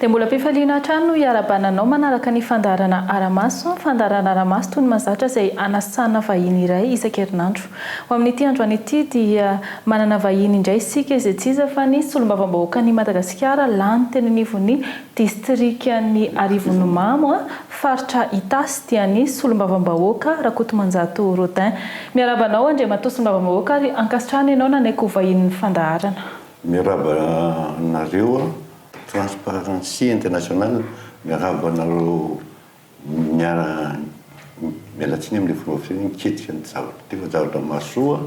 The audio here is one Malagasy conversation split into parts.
Dia mbola am-pifaliana hatrany no hiarabana anao manaraka ny fandaharana Ara-maso, fandaharana Ara-maso toy ny mahazatra izay anasana vahiny iray isan-kerinandro. Ho amin'ity androany ity dia manana vahiny indray isika izay tsy iza fa ny Solombavambahoakan'i Madagasikara lany teny anivon'ny Distrikan'i Arivonimamo, faritra Itasy dia ny Solombavambahoaka Rakotomanjato Rodin. Miarahaba anao Andriamatoa Solombavambahoaka ary ankasitrahana ianao nanaiky ho vahinin'ny fandaharana. Miarahaba anareo Transparency International, miarahaba anareo miara miala tsiny amin'ilay fomba fiteny hoe miketrika ny zavatra teo fa zavatra mahasoa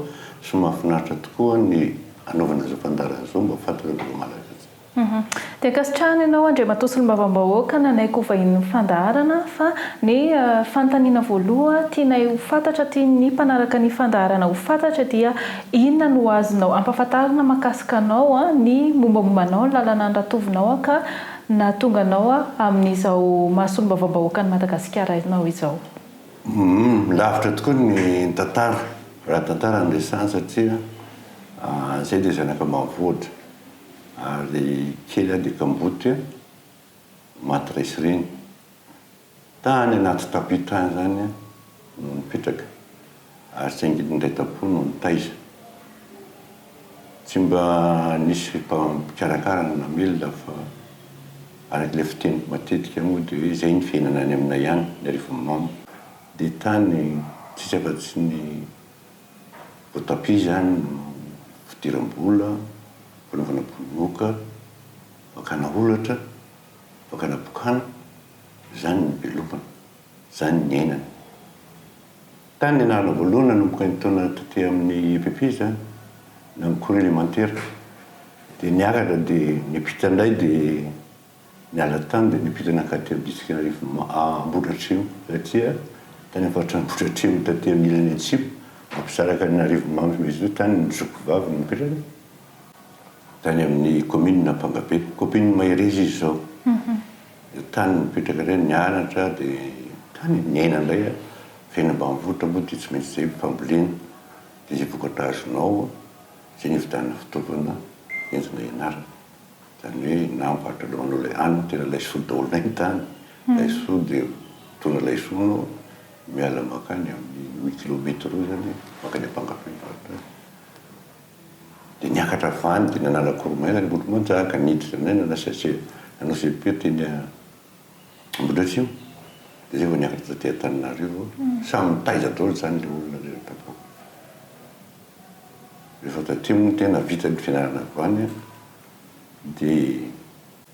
sy mahafinaritra tokoa ny anaovana izao fandaharana izao mba ho fantatr'ireo vahoaka malagasy. Dia ankasitrahana ianao Andriamatoa Solombavambahoaka nanaiky ho vahinin'ny fandaharana fa ny fanontaniana voaloha tianay ho fantatra tian'ny mpanaraka ny fandaharana ho fantatra dia inona no azonao ampafantarina makasika anao ny mombamomba anao ny lalana andratovinao ka nahatonga anao amin'izao maha Solombavambahoakan'i Madagasikara anao izao. Lavitra tokoa ny tantara raha tantara no resahana satria izay dia zanaka mavoatra. Ary kely aho dia kamboty an! Maty resireny. Tany anaty tapis tany izany aho no nipetraka ary tsy angidy indray tam-po no nitaiza. Tsy mba nisy mpikarakara na namelona fa araka ilay fiteniko matetika moa dia hoe izay ny fiainana any aminay any ny arivon'ny mamo dia tany tsisy afa-tsy ny Vao tapis izany no fidiram-bola, fanaovana bononoka, fakana holatra, fakana bokana, izany ny belobana, izany ny ainana. Tany nianarana voalohany nanomboka ny taona taty amin'ny EPP izany, na ny cours élémentaire, dia niakatra dia niampita indray dia. Niala tany dia nipita nankatỳ amin'ny distrikan'Arivo Ambohidratrimo taty tany am-paritry Ambohidratrimo taty amin'ny ilany atsimo mampisaraka an'Arivonimamo sy Mezitoa tany ny zokiky vaviny nipetraka tany amin'ny kaominina Ampangabe. Kaompinina Mahereza izy izao. Dia tany nipetraka indray, nianatra dia tany niaina indray. Fiainana ambanivohitra moa dia tsy maintsy izay ny fambolena. Dia izay vokatra azonao, izay no ividianana fitaovana entina ianarana. Izany hoe na mivarotra drone ilay hany no tena laisoa daholo na entany laisoa dia mitondra laisoa anao miala mankany amin'ny roa kilometa roa izany mankany Ampangabe mivarotra azy. Dia niakatra avy any dia nanala koromaina ny olo-manjaka, niditra indray nanao CEP nanao CEP teny Ambohidratrimo dia izay vao niakatra taty Antananarivo. Samy nitaiza daholo izany ilay olona rehetra tao. Rehefa taty moa ny tena vita ny fianarana avy any. dia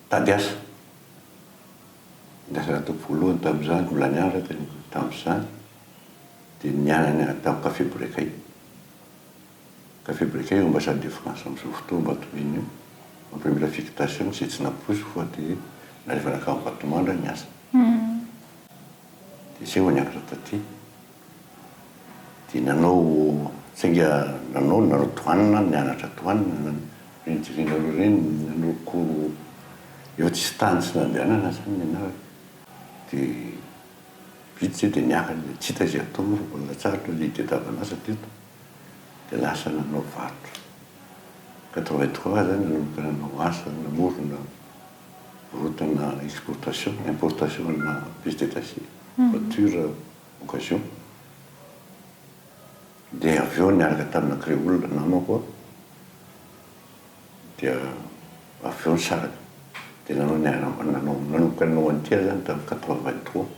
tady asa. Ny asa natao voalohany tamin'izany, mbola nianatra aho teny tamin'izany, dia ny nianany tamin'ny Café Brekay. Café Brekay eo Ambassade de France amin'izao fotoana Ambatomena io, en première affectation, izay tsy nampoiziko fa dia nalefa nankany Ambatomandra ny asa. Dia izay vao niakatra taty. Dia nanao, sainga nanao ny nanao douane, nianatra douane, rindrina roa ireny, nanao cours, efa tsisy tany tsy nandehanana izany nianarako. Dia vita izay dia niakatra dia tsy hita izay atao moa fa mbola latsaharitra ny idée tavanasa teto. Dia lasa nanao varotra. Quatre-vingt trois izany nanomboka nanao asa namorona rotana exportation, importation ana pièces détachées, voiture. occasion dia avy eo niaraka tamina creole namako aho dia avy eo nisaraka dia nanao ny aramba nanao nanomboka nanao an'ity aho zany tamin'ny quatre vingt trois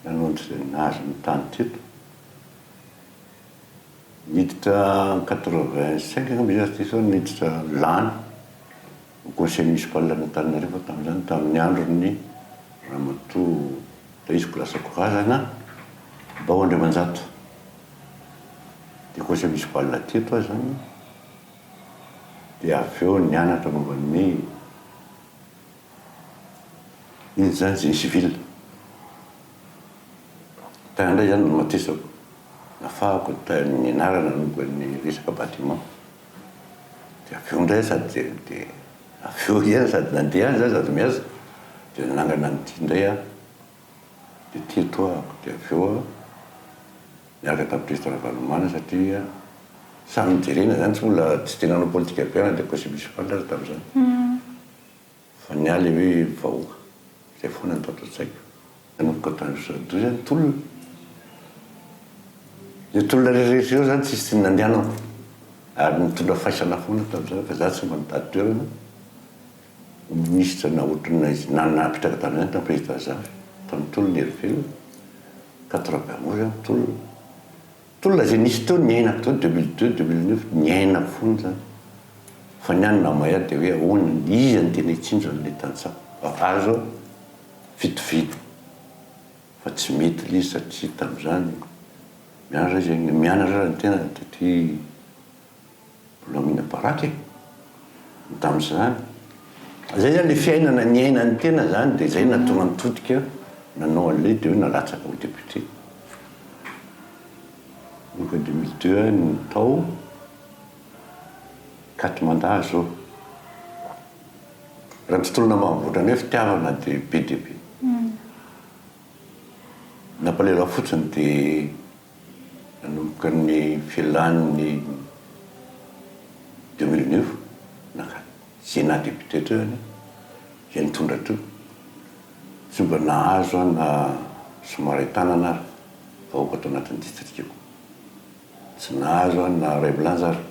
nanao an'izay nahazo ny tany teto niditra quatre vingt cinq angamba izy raha tsy diso aho niditra lany ho conseil municipal an'Antananarivo tamin'izany tamin'ny andron'ny ramatoa Daisiko Rasakorazana Bao Andriamanjato dia conseil municipal teto aho izany dia avy eo nianatra momba ny inona izany génie civil tany indray izany no nomatesako nafahako ny anarana momba ny resaka bâtiment dia avy eo indray sady dia avy eo indray sady nandeha any za sady miasa dia nanangana an'ity indray aho dia teto aho dia avy eo aho niaraka tamin'i Pesta Ravalomanana satria samy nijerena izany tsy mbola tsy dia nanao politika be aho na dia conseil municipal aza tamin'izany Fa ny ahy le hoe vahoaka. Zay foana no tato an-tsaiko. Nanomboka tany Soadoy zany tolona. Io tolona rehetra io zany tsisy tsy nandehanako. Ary nitondra faisana foana tamin'izany fa za tsy mba nitady toerana ho minisitra na ohatrinona izy na napetraka tamin'izany tamin'ny président zafy, tamin'ny tolona herivelona, quatre vingt onze aho tolona. Tolona izay nisy teo ny aina teo deux mille deux, deux mille neuf niaina foana izany fa ny any namaiha dia hoe ahoana ny iza no tena hitsinjo an'ilay tantsaha fa azo fitoviana fa tsy mety ilay izy satria tamin'izany mianatra izy mianatra raha ny tena taty Volamena baraka e! Ny tamin'izany. Izay izany ilay fiainana niainan'ny tena izany dia izay nahatonga an'i Todika nanao an'ilay dia hoe nalatsaka ho député. Io koa deux mille deux no tao, quatre mandat azo eo. Raha ny tontolo namahavoatra anay fitiavana dia be dia be. Nampalahelo ahy fotsiny dia. nanomboka ny filan' ny deux mille neuf nankany Sénat député teo ianao izay nitondra teo, tsy mba nahazo aho na somary an-tanana ary vahoaka tao anatin'ny distrikako, tsy nahazo aho na iray milanja ary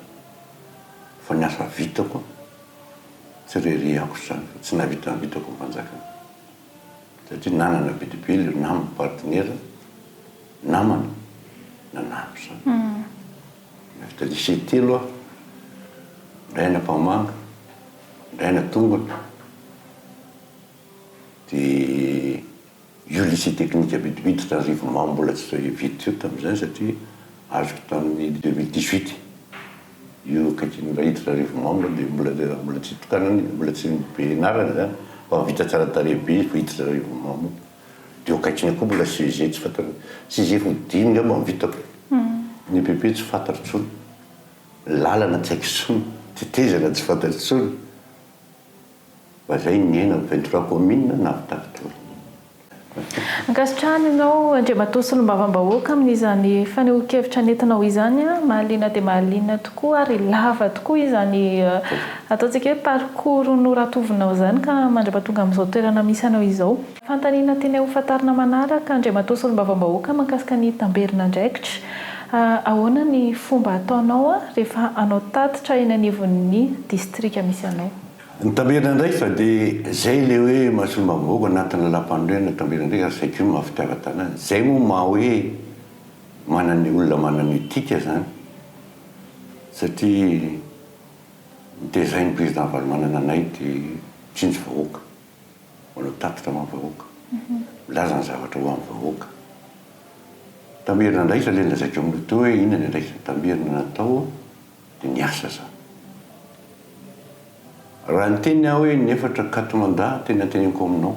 fa ny asa vitako tsy re re ankotr'izany fa tsy nahavita ny vitako ny fanjakana. satria nanana bilibily io namany, partenaire, namana nanampy izany. Navita lycée telo aho, indray any Ampahamanga, indray any Tombony, dia io lycée technique Abidibidy tany Rivomamo mbola tsy vita io tamin'izay satria azoko tamin'ny deux mille dix-huit. Io akaiky ny Raiditra Arivonao angamba dia mbola le raha mbola tsy tokanany dia mbola tsy be enarana zany fa ho vita tsara tarehy be izy vao hiditra Arivonao mo dia eo akaikiny eo koa mbola CEG tsy fantako CEG ho dimy angamba ny vitako ny EPP tsy fantatro tsony ny lalana tsy haiko tsony tetezana tsy fantatro tsony Lazainy ny aina, ventura commune na vitavitory. Ankasitrahana ianao Andriamatoa Solombavambahoaka amin'izany fanehoan-kevitra nentinao izany. Mahaliana dia mahaliana tokoa ary lava tokoa izany ataontsika hoe parcours noratovinao izany ka mandrapatonga amin'izao toerana misy anao izao. Fanontaniana tianay hofantarina manaraka, Andriamatoa Solombavambahoaka mahakasika ny tamberin'andraikitra, ahoana ny fomba ataonao rehefa hanao tatitra eny anivon'ny distrika misy anao? Ny tamberin'andraikitra dia izay ilay hoe maha Solombavambahoaka anatin'ny Lalàmpanorenana tamberin'andraikitra ary izay koa maha fitiavan-tanàna. Izay moa maha hoe manana ny olona manana etika izany satria notezain'ny Président Ravalomanana anay dia tsinjo vahoaka. manao tatitra ho an'ny vahoaka, milaza ny zavatra ho an'ny vahoaka. Tamerina indray izany ilay nolazaiko aminao teo hoe inona ny andraikitra tamerina natao dia ny asa izany. Raha niteny aho hoe ny efatra quatre mandat tena teneniko aminao,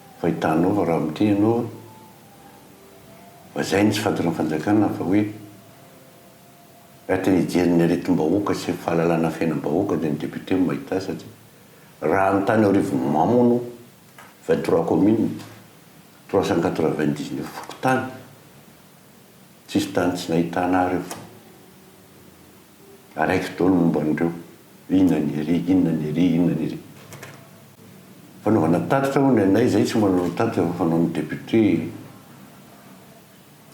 Fahitanao fa raha miteny ianao hoe lazainy tsy fahatonga fanjakana fa hoe ety hijery ny aretim-bahoaka sy ny fahalalana fiainam-bahoaka dia ny député no mahita azy satria raha ny tany aorivo mamono vingt trois communes, trois cent quatre vingt dix neuf fokontany, tsisy tany tsy nahitana ahy ireo. araiky daholo ny momba an'ireo hoe inona ny hery, inona ny hery, inona ny hery. Fanaovana tatitra hono ny anay, izahay tsy manao tatitra fa fanaon'ny député,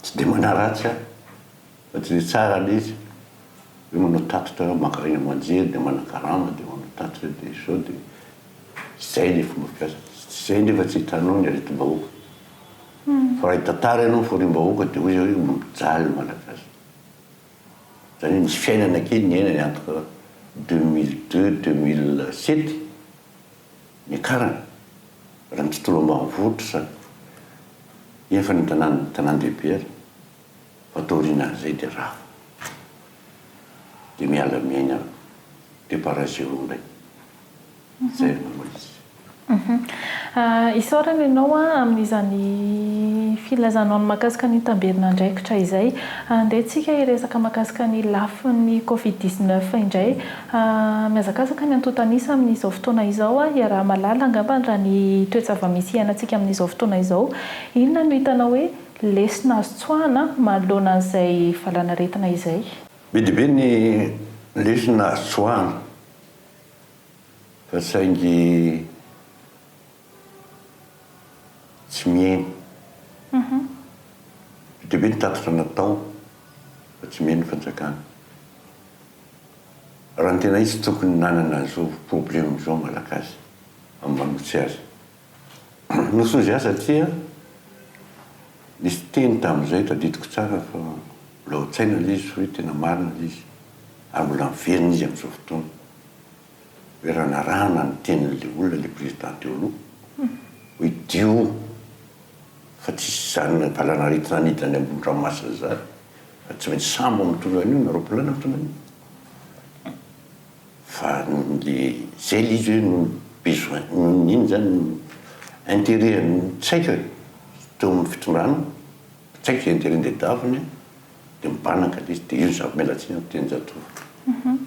tsy dia manaratsy ahy fa tsy dia tsara le izy hoe manao tatitra, maka aina aman-jery dia manakarama dia manao tatitra dia izao dia izay le fomba fiasa, tsy izay nefa tsy hitanao ny aretim-bahoaka. Fa raha hitantara ianao ny fahoriam-bahoaka dia hoy izy hoe mijaly ny Malagasy. izany hoe nisy fiainana kely niainany entre deux mille deux, deux mille sept, niakarany raha ny tontolo ambanivohitra izany, eny fa ny tanàna, tanàn-dehibe ary, fa taoriana an'izay dia rava, dia miala miaina de par ailleurs indray. Izay no izy. Isaorana ianao amin'izany filazanao ny mahakasika ny tamberin'andraikitra izay. Andeha tsika hiresaka mahakasika ny lafiny covid dix neuf indray. Mihazakazaka ny antontan'isa amin'izao fotoana izao. Iaraha-mahalala angambany raha ny toe-java-misy iainantsika amin'izao fotoana izao. Inona no hitanao hoe lesona azo tsoahina manoloana an'izay valanaretina izay? Be dia be ny lesona azo tsoahina. Fa saingy tsy mihaino. Be dia be ny tatitra natao fa tsy mihaino ny fanjakana. Raha ny tena izy tokony nanana izao problème izao malagasy amin'ny manolotse azy. Nosy hozy aho satria nisy teny tamin'izay tadidiko tsara fa mbola ao an-tsaina ilay izy hoe tena marina ilay izy ary mbola miverina izy amin'izao fotoana hoe raha narahana ny tenin'ilay olona ilay président teo aloha hoe dio fa tsy hisy izany valanaretina hanidina any ambony ranomasina izany fa tsy maintsy sambo mitondra an'io na roaplanina mitondra an'io. Fa le zay le izy hoe noho ny besoin noho ny inona zany interet an'ny tsaika teo amin'ny fitondrana, tsaika zay interet le daviny de mibanaka le izy de io ny zava-miala tsiny amiko Dianjatovo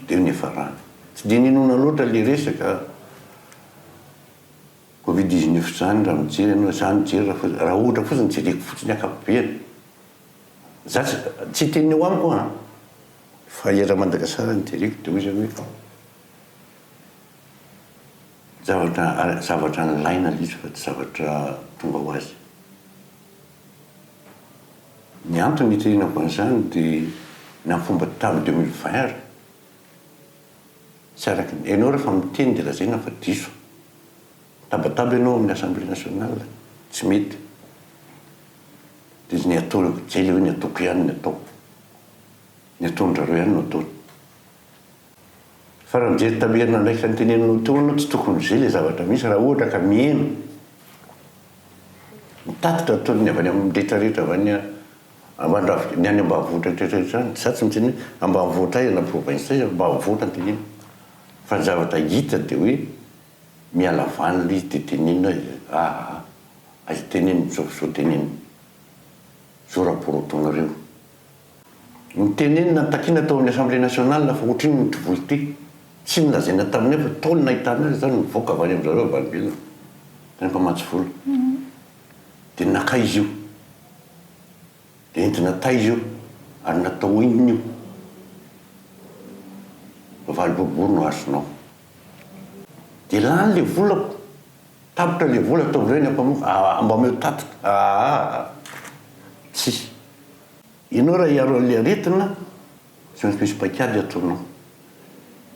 de io no ihafarany. Tsy de ninoana loatra le resaka covid dix neuf zany raha mijery anao, za mijery raha ohatra fotsiny jereko fotsiny ny akapobeany. Za tsy tsy hiteny eo amiko an! Fa i Ramadagasara no jereko dia hoy izy hoe oh! Zavatra ara zavatra nilaina ilay izy fa tsy zavatra tonga ho azy. Ny antony niterenako an'izany dia na fomba table de mille vingt ary tsy araka ny ianao rehefa miteny dia lazaina fa diso. Mitabataba ianao amin'ny Assemblée Nationale, tsy mety. dia ny ataoko kely hoe ny ataoko ihany no ataoko, ny ataon-dry zareo ihany no ataony. Fa raha mijery tamin'ny herinandro iraika noteneninao teo ianao, tsy tokony ho izay ilay zavatra misy raha ohatra ka mihena. Ny tatitra ataony ny avy any amin'ny rehetra rehetra avy any amban-drafitra, ny any ambanivohitra rehetra rehetra any, za tsy miteny hoe ambanivohitra aiza na province aiza, ambanivohitra no teneniko, fa ny zavatra hita dia hoe. Miala vanly de teneno e aa aza teneno zao zao teneno zao rapport ataonareo no teneno na takiana tao amin'ny assemblée nationale fa ohatrinona ny kivolo ty tsy nolazaina taminay fa tao ny nahitana azy zao no nivoaka avy any amin-dry zareo vanbilina tany mpamatsy vola de nakaiza io de entina taiza io ary natao inona io fa valiborobory no azonao. Dia lany le volako, tapitra le vola ataovy ireny ampamofo, mba omeo tatitra, aah! Tsia. Ianao raha hiaro an'ilay aretina, tsy maintsy misy paik'ady ataonao.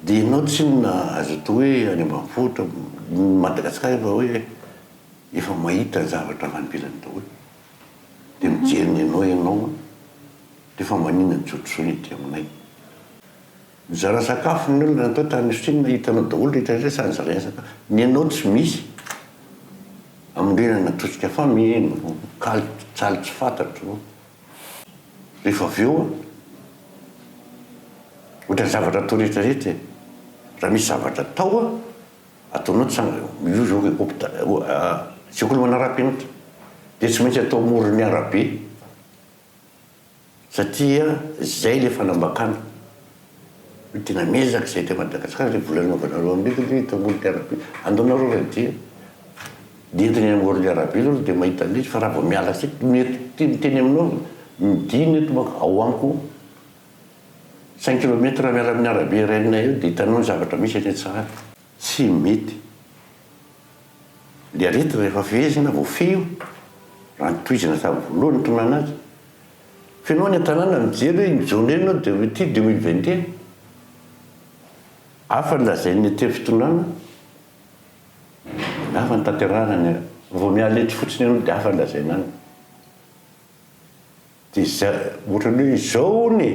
Dia ianao tsinona, azo atao hoe any ambanivohitra, ny Madagasikara efa hoe efa mahita ny zavatra avy any ivelany daholo. Dia mijery ny anao ianao an! dia fa manina ny jotrojoiny ety aminay. Nizara sakafo ny olona tao tany Chine, hitanao daholo rehetra rehetra sady zaraina sakafo. Ny anao tsy misy. Ambolena natosika fa mino, kaly tsaly tsy fantatro. Rehefa avy eo ohatran'ny zavatra atao rehetra rehetra e. Raha misy zavatra atao a, ataonao tsara, io zao hopitaly, sekoly manarapenitra dia tsy maintsy atao amoron'ny arabe. Satria zay le fanambakana hoe tena miezaka zay te Madagascar le vola anaovanareo aminy le hitanolo te arabie andao nareo ray dia dia entina eny am orly arabie aloha de mahita anle izy fa raha vao miala asika ny eto ty miteny aminao midina eto manko ao amiko cinq kilomètre raha miala aminy arabie renay eo de hitanao ny zavatra misy eny an tsahady tsy mety. Ny aretina rehefa fehezina, voafehy io, raha ny tohizana sahabo voalohany nitononana azy. Fenoy ny an-tanàna ny mijery hoe iny John iny no Dewit ity deux mille vingt et un. Hafa ny lazain'ny etero fitondrana, ny hafa ny tanterahana ny, vao miala etsy fotsiny ianao dia hafa ny lazaina any. dia izay ohatrany hoe izao hono e,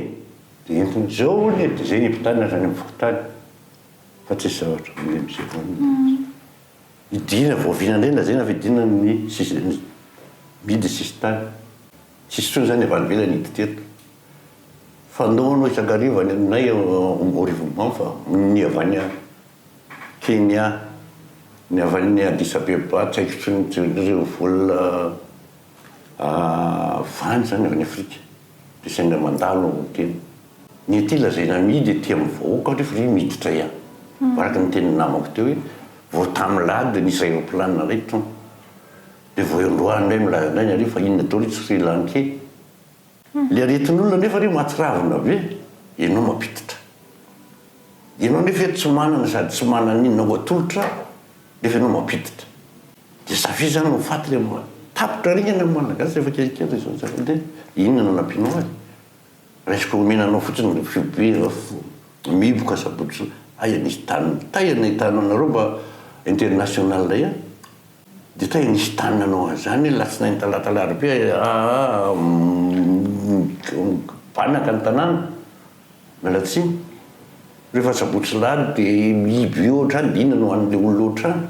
dia entiny izao hono e, dia izay hiampitana azy any amin'ny fokontany, fa tsisy zavatra mandeha amin'izay hono. Hidiana vao vina indray lazaina fa hidiana ny sisa, ny mihidy ny sisintany. Tsisy intsony izany avy any ivelany hihidy teto. Fanao anao isan-kariva any aminay ao Rivonimamo fa ny avy any Kenya, ny avy any Addis Abeba tsy haiko intsony ireo vola Vany izany avy any Afrika, dia saingy mandalo ao amin'ny tena. Ny ety lazaina amidy ety amin'ny vahoaka anefa ve miditra ihany? Fa araka ny tenin'ny namako teo hoe vao tamin'ny lahady dia nisy aéroplane nalay trano. Dia vao eo androany indray milaza indray ny harena fa inona daholo i Sri Lankey. Ilay aretin'olona anefa re mahatsiravina be, ianao mampiditra. Ianao anefa eto tsy manana sady tsy manana inona ho atolotra nefa ianao mampiditra. Dia zavia izany no faty ilay mba tapitra ringana ny Malagasy rehefa kelikely izao tsy haiko dia inona no anampianao azy? Raisiko omena anao fotsiny ny fihobiana fo mihiboka sabotsy soa aia nisy tany tay anay tany anareo mba international indray an! dia tay nisy tany nanao an'izany ny alatsinainy talata alarobia aa mibanaka ny tanàna miala tsiny rehefa sabotsy lahady dia mihiby eo hatrany dia inona no an'ilay olona ohatrany?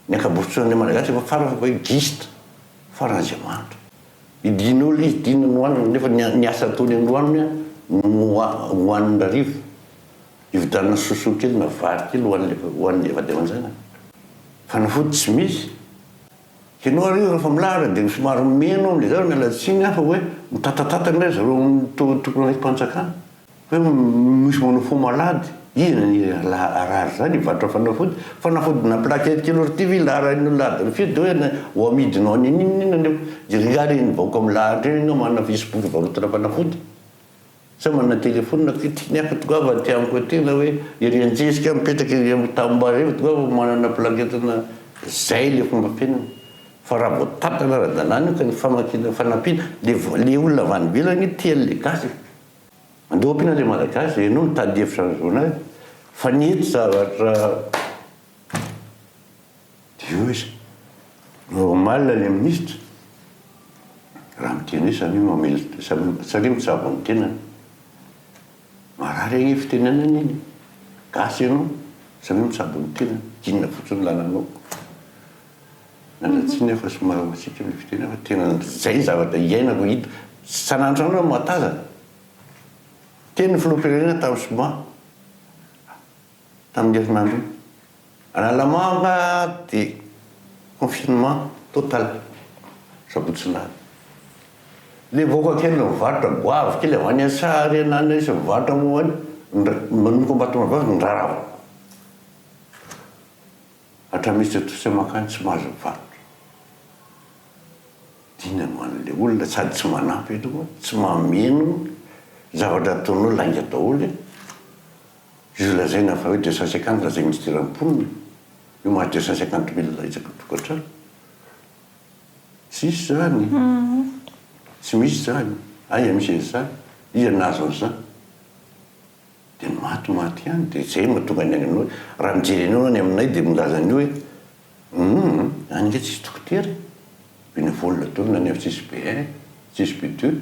Ny ankabotsoan'ny Malagasy efa kara fa hoe giste farany izay mahantra. I Dino ilay izy tiana nohanina nefa ny asa ataony androany no nohaniny hariva. Hividianana sosoa kely na vary kely hohan'ilay vady aman-janany. Fanafody tsy misy. Hianao ary io rehefa milahatra dia somary meno amin'izay aho miala tsiny fa hoe mitatatata ange ry zareo tokony ho enti-panjakana. Hoe misy manao fo malady, iza ny harary zany hivarotra fanafody? Fanafody na plaquette kely ory ty ve ilaharain'ny olona ady rafio de hoe ho amidinao any an'inona inona nefa jereo nga reny vahoaka milahatra eo ianao manana facebook hivarotana fanafody sa manana telephone ty tiany aky tokoa va ty amiko aty na hoe ery antsesika mipetraka ery am tanimbary ery tokoa va manana plaquette na zay le fomba fiainana fa raha vao tapitra ny ara-dalàna io ka ny famakiana fanampiana le olona avy any ivelany io tia an'le gasy e! Andoha piana le malagasy e, no mitady hevitra ny zonay fa ny eto zavatra io izy normal le ministra raha miteny hoe samia mamely samia mitsabo ny tenany marary anie fitenenana iny gasy ianao samia mitsabo ny tenany inona fotsiny lananao Miandry tsiny aho fa somary matsiko ilay fiteny fa tena izay ny zavatra iainako hita isan'andro aho mahatazana. Teny ny filoham-pirenena tamin'ny zoma tamin'iny herinandro iny. Analamanga dia confinement total sabotsy alina. Ilay vahoaka kely nivarotra goavy kely avy any Antsahariana any sy mivarotra momba ny manomboka am-batomangazana ny raharaha. Hatramin'ny izy teto sisa mankany tsy mahazo mivarotra. Dina no an'ilay olona sady tsy manampy aloha, tsy mameno ny zavatra ataony hoe lainga daholo e! Io lazaina fa hoe deux cent cinquante lazain'ny minisiteran'ny mponina io mahazo deux cent cinquante mille isaky ny tokantrano. Tsisy izany, tsy misy izany, aiza misy an'izany, iza no nahazo an'izany? Dia maty maty ihany dia izay no tonga ny any aminao hoe raha mijery anao ianao any aminay dia milaza an'io hoe humm any ange tsisy dokotera e! Bénévole daholo na ny avy tsisy be un tsisy be deux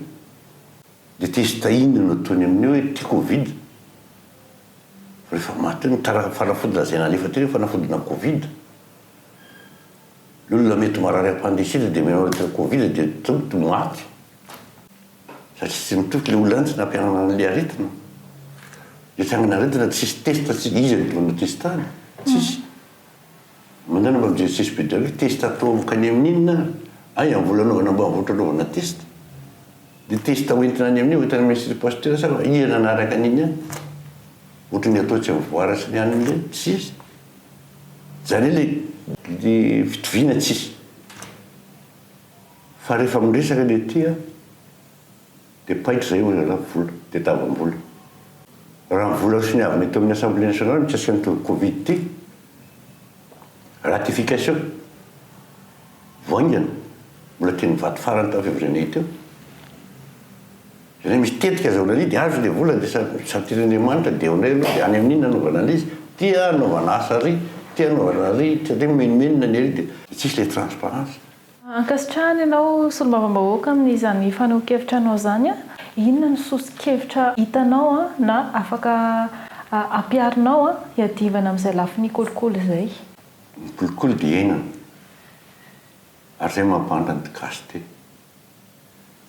dia testa inona no ataony amin'io hoe ity covid fa rehefa maty eo ny tara fanafody lazaina alefa teo hoe fanafodina covid ny olona mety marary appendicite dia menao rehetra covid dia tonto maty satria tsy mitoky ilay olona ihany tsy nampianana an'ilay aretina, dia tsy hanana aretina tsisy test tsy iza no no test any? tsisy manana mba mijery tsisy be daholo test atao avokany amin'inona ary? hay amin'ny vola anaovana ambanivohitra anaovana test dia test hoentina any amin'io hoentina amin'ny institut pasteur sa iza nanaraka an'iny any? ohatry ny atao tsy mivoara sy ny anona indray tsisy zany hoe ilay fitoviana tsisy. Fa rehefa miresaka ny aty an, dia paika izay hoy ialahy vola, dia tavam-bola. Raha ny vola soniavina eto amin'ny Assemblée nationale mikasika ny tody covid ity, ratification, vao haingana, mbola teny mivato farany tao février-may teo. Ilay misy tetika azahoana an'io dia azo ilay vola dia satirin'Andriamanitra dia eonay aloha dia any amin'iny nanaovana an'izy ity an, anaovana asa ary ity anaovana ary ity, satria mimenomenona ny ary dia tsisy ilay transparence. Ankasitrahana ianao Solombavambahoaka amin'izany fanehoan-kevitranao izany. Inona no soso-kevitra hitanao na afaka ampiharinao hiadivana amin'izay lafiny kolikoly izay? Ny kolikoly dia iainana ary izay mampandra ny gasy dia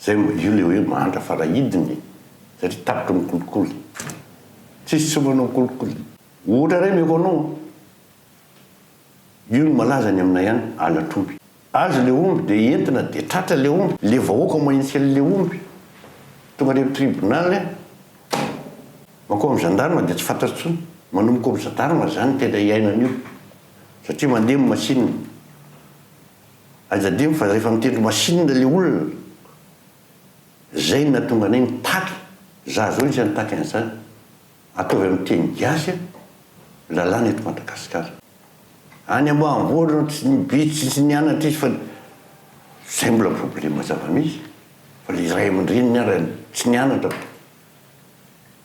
izay, io ilay hoe mandra fa raha hidina e! satria tapitra ny kolikoly, tsisy tsy omana ny kolikoly. Ohatra iray omeko anao an! Io no malaza any aminay any Alatroby. Azy le omby de entina de tratra le omby, le vahoaka mahintsy an le omby, tonga any am tribunal an, mankao am gendarme de tsy fantatra tsony, manomboka am gendarme zany tena iainana io satria mandemy machine, aidademy fa refa mitendry machine le olona, zay no nahatonga anay nitaky, za zao isan'ny nitaky an'zany. Ataovy amin'ny teny gasy an lalàna eto Madagasikara. Any ambanivohitra no tsy ny be tsy tsy nianatra izy fa ny zay mbola problema zava-misy fa le ray aman-dreniny ara tsy nianatra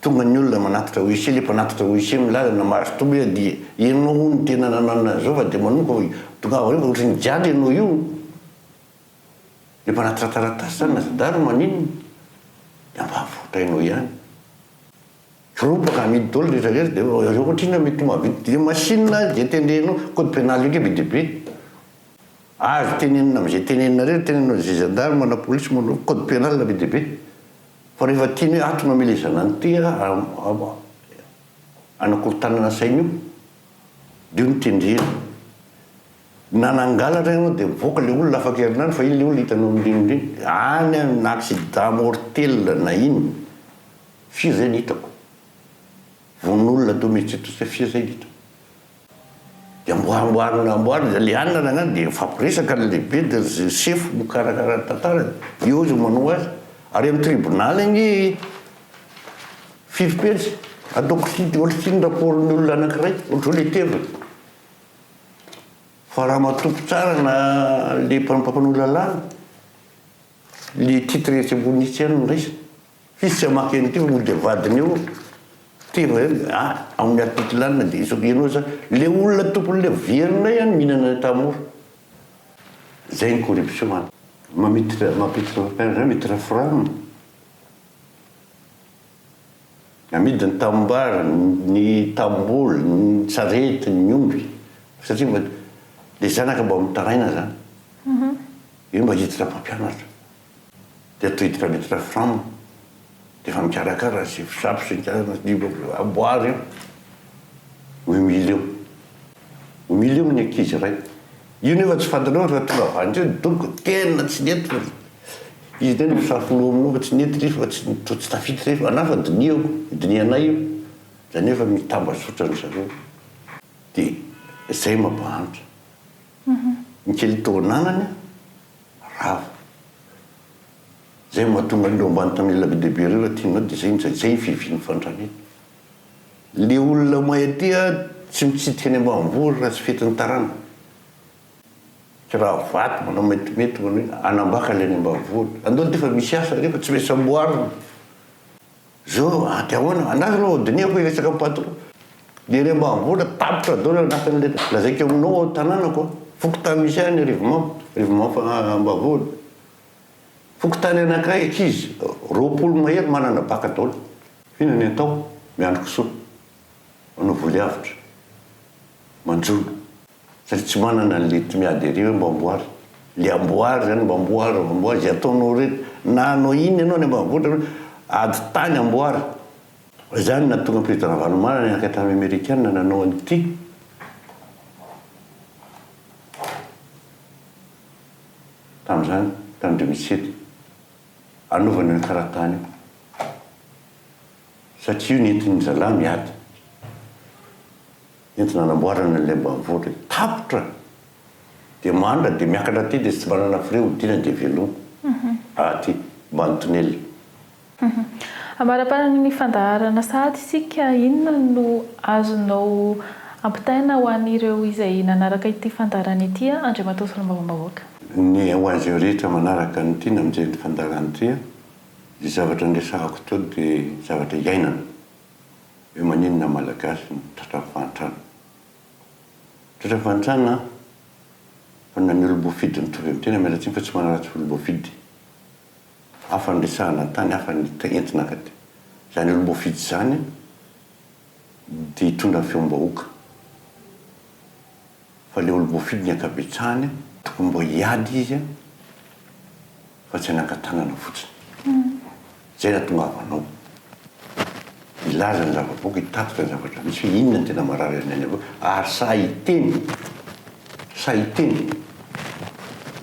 tonga ny olona manatitra wc le mpanatitra wc milaza na mahazo toby aza dia ianao hono tena nanana an'izao fa dia manoka fa tongava any fa ohatry ny jialy ianao io Dia mba raha trataratasy zany na zandary no maninona dia mba voatrainao ihany. Firompaka amidy daholo rehetra rehetra dia hoe zareo ohatra inona mety ho mahavita dia machine azy dia teneno code penal io ndray be dia be. Azo tenenina amzay tenenina rehetra tenenina zay gendarme na police manao code penal be dia be fa rehefa tiany hoe ato mamelezana an'ity a anakorontanana saina io dia io no tendrena. Na nangalatra ianao dia mivoaka ilay olona afaka herinandro fa iny ilay olona hitanao mirindrina iny. Any aho na accident mortel na inn firy zay no hitako. Vononolona teo mihitsy tsy hay firy zay no hitako. Dia mbola amboarina amboarina izy ilay anona nagnano dia mifampiresaka ny lehibe dia ry sefo mikarakara ny tantara dia eo izy manoa azy. Ary amin'ny tribunal anie firy pejy? Ataoko site olsy ny rapport ny olona anakiray ohatr'izao letera. Fa raha matoky tsara na le mpampanoa lalàna le titre etsy ambony etsy ihany no raisina. F'izy tsy hamaky an'ity fa mody avadiny eo tena hoe a amin'ny article anona de izao ianao zany le olona tompon'le verinay any mihinana any Tahamora. Zay ny corruption any. Mamit- mampitre- mampitreforam. Namidy ny tanimbary, ny tanimboly, ny sarety, ny omby, satria mba le zanaka mba mitaraina zany, io mba hiditra mpampianatra, de atao hiditra miditra fram, de efa mikarakara sy fsap sy ny amboary io, humilium, humilium ny ankizy ray. Io nefa tsy fantanao fa tonga avy any teo donc tena tsy nety fa izy tena ho safo noho aminao fa tsy nety re fa tsy toa tsy tafita re fa anah fa dinihako dinihanay io zany hoe efa mitambazotra ry zareo de zay mampahantra ny kely tao ananany rava zay mahatonga an'ireo ambany tanila be dia be ireo raha tianao de zay zay ny fivian'ny fandramena. Le olona may aty a tsy mitsidika any ambanivohitra raha tsy fetin'ny tarana. Tsy raha vato manao maintimainty manao ina. Anambaka le any ambanivohitra. Andao aty fa misy asa re fa tsy maintsy amboarina. Zao aty ahoana? Andraso aloha vao dinihako hiresaka amin'ny patron. Le any ambanivohitra tapitra daholo anatin'le lazaiko aminao ao tananako a. Fokontany misy ahy ny Arivomamo, Arivomamo ambavohitra. Fokontany anankiray ankizy roapolo mahery manana baka daholo. Inona ny atao? Miandry kisoa. Manao voly avotra. Manjono. Satria tsy manana an'ilay tsy mi-adherer hoe Mbamboary. Ilay amboary izany, Mbamboary, Mbamboary, izay ataonao rehetra. Na hanao inona ianao any ambanivohitra hoe ady tany amboary. Izany no nahatonga Président Ravalomanana niankina tamin'ny Amerikana nanao an'ity. Tamin'izany, tamin'ny deux mille sept. anaovany an'io karatany io satria io nentin'ny zalahy miady entina anamboarana an'ilay ambanivohitra io. Tapitra dia mandra dia miakatra aty dia tsy manana frais hodiana dia veloma aty ambany tonelina. Ambaraparanin' ny fandaharana sahady isika, inona no azonao ampitaina ho an'ireo izay nanaraka ity fandaharana ity, Andriamatoa Solombavambahoaka? Ny ho azy ireo rehetra manaraka ny tiana mijery ny fandaharan-tria, io zavatra niresahako itoa dia zavatra iainana. Hoe maninona ny Malagasy no tratran'ny fahantrana? Tratran'ny fahantrana fa na ny olom-boafidy mitovy amin'ny tena miala tsiny fa tsy manaratsy olom-boafidy. Hafa ny resahana tany, hafa ny entina ankaty. Izany olom-boafidy izany. dia hitondra feom-bahoaka. Fa ilay olom-boafidy ny ankabetsahany tokony mba hiady izy fa tsy hanangan-tanana fotsiny. Izay no hatongavanao hilaza ny zava-boky, hitatitra ny zavatra misy hoe inona no tena marary an'i Neny Avokoa ary sahy hiteny, sahy hiteny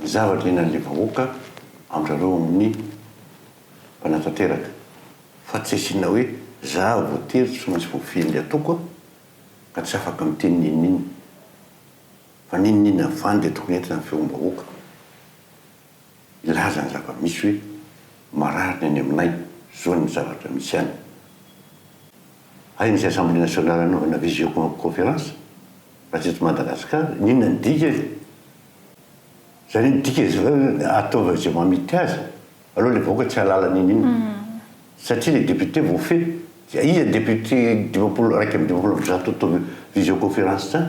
ny zavatra iainan'ilay vahoaka amin'izareo amin'ny manatanteraka fa tsy asiana hoe za voatery tsy maintsy voafidy ny ataoko a! ka tsy afaka miteny n'inon'inona fa n'inon'inona avy any dia tokony entina ny feom-bahoaka hilaza ny zava-misy hoe marary ny any aminay, zao ny zavatra misy any. Hay misy assemblée nationale anaovana visioconférence raha tsy eto Madagascar, n'inona ny dika e! Zany hoe dika ataovy izay mamity azy. Aleo ilay vahoaka tsy hahalala an'iny iny satria ilay député voafehy dia iza député dimampolo iraika amby dimampolo amby zato atao visioconférence zany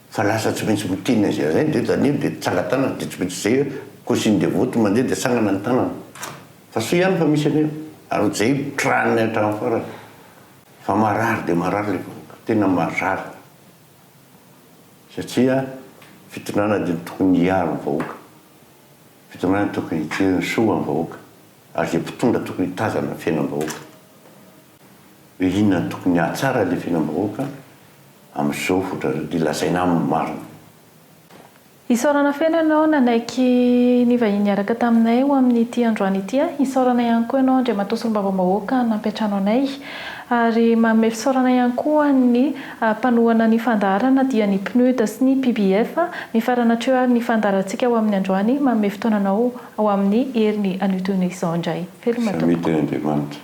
fa lasa tsy maintsy miteny an'izay an'izay ndry zany dia tsangan-tanana dia tsy maintsy izay hoe consigne de vote mandeha dia tsangana ny tanana fa soa ihany fa misy an'io ary hojahy tran ny hatramin'ny farany fa marary dia marary ilay vahoaka tena marary satria fitondrana dia ny tokony hiaro ny vahoaka. Fitondrana tokony hijery ny soa am vahoaka ary zay mpitondra tokony hitazana ny fiainam bahoaka hoe inona no tokony hahatsara ilay fiainam bahoaka amin zao hotrany le lazaina aminy marina. Isaorana feno ianao nanaiky nivahiny hiaraka taminay ho amin ity androany ity a! Isaorana ihany koa ianao Andriamatoa Solombavambahoaka nampiantrano anay ary manome fisaorana ihany koa ny. Mpanohana ny fandaharana dia ny PNUD sy ny PBF. Mifarana hatreo ary ny fandaharantsika ho amin'ny androany. Manome fotoana anao ho amin'ny heriny anio toy ny izao indray. Veloma tompoko.